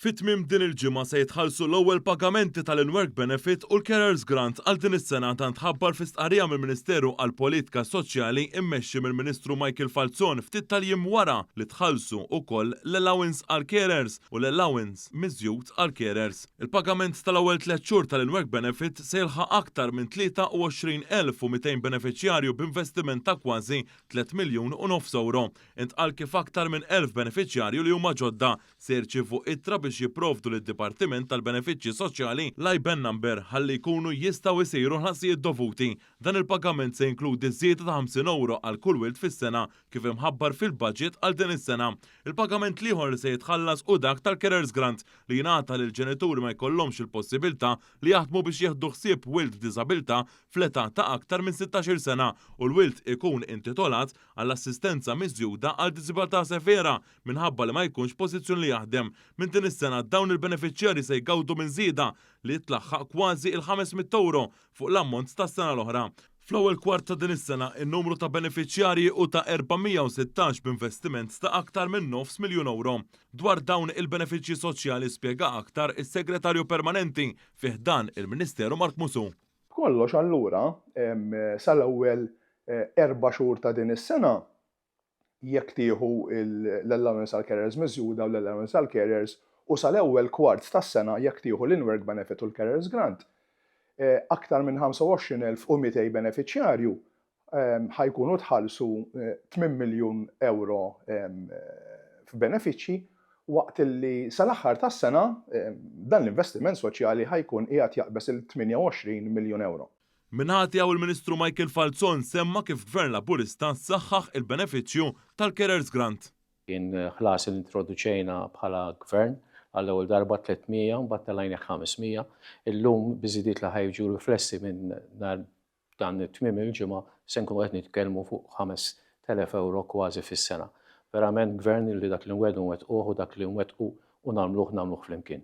Fi tmiem din il-ġimgħa se jitħallsu l-ewwel pagamenti tal-In-Work Benefit u l-Carers Grant għal din is-sena, dan tħabbar fi stqarrija mill-Ministeru għall-Politika Soċjali mmexxi mill-Ministru Michael Falzon ftit tal-jiem wara li tħallsu wkoll l-allowance għall-carers u l-allowance miżjud għall-carers. Il-pagament tal-ewwel tliet xhur tal-In-Work Benefit se jilħaq aktar minn 23,200 benefiċjarju b'investiment ta' kważi tliet miljun u nofs ewro, intqal kif aktar minn elf benefiċjarju li huma ġodda se jirċievu ittra biex jipprovdu lid-Dipartiment tal-Benefiċċji Soċjali l-IBAN number ħalli jkunu jistgħu jsiru l-ħlasijiet dovuti. Dan il-pagament se jinkludi żieda ta' 50 ewro għal kull wild fis-sena, kif imħabbar fil-baġit għal din is-sena. Il-pagament l-ieħor li se jitħallas hu dak tal-Carers Grant li jingħata lil ġenituri ma jkollhomx il-possibiltà li jaħdmu biex jieħdu ħsieb wild b'diżabilità fl-età ta' aktar minn 16-il sena u l-wild ikun intitolat għall-assistenza miżjuda għal diżibiltà severa Minħabba li ma jkunx f'pożizzjoni li jaħdem, minn din is-sena dawn il-benefiċjarji se jgawdu minn żieda li tlaħħaq kważi il-ħames mitt ewro fuq l-ammont tas-sena l-oħra. Fl-ewwel kwart ta' din is-sena, in-numru ta' benefiċjarji hu ta' 416 b'investiment ta' aktar minn nofs miljun ewro. Dwar dawn il-benefiċċji soċjali spjega aktar is-Segretarju Permanenti fi ħdan il-Ministeru Mark Musù. B'kollox allura, sal-ewwel erba' xhur ta' din is-sena, jekk tieħu l-allowance għall-carers miżjuda u l-allowance għall-carers, u sal-ewwel kwart tas-sena jekk tieħu l-in-work benefit u l-carers grant, aktar minn 25,200 benefiċjarju ħa jkunu tħallsu tmien miljun ewro f'benefiċċji waqt li sal-aħħar tas-sena dan l-investiment soċjali ħa jkun qiegħed jaqbeż il-28 miljun ewro. Min-naħa tiegħu l-Ministru Michael Falzon semma kif Gvern Laburista saħħaħ il-benefiċċju tal-Carers Grant. Kien ħlas li introduċejna bħala Gvern għall-ewwel darba 300 u mbagħad telajnieh 500. Illum biż-żidiet li ħa jiġu riflessi minn nhar dan it-tmiem il-ġimgħa se nkunu qed nitkellmu fuq 5,000 ewro kważi fis-sena. Verament Gvern li dak li nwedu nwettquh u dak li nwettqu u nagħmluh nagħmluh flimkien.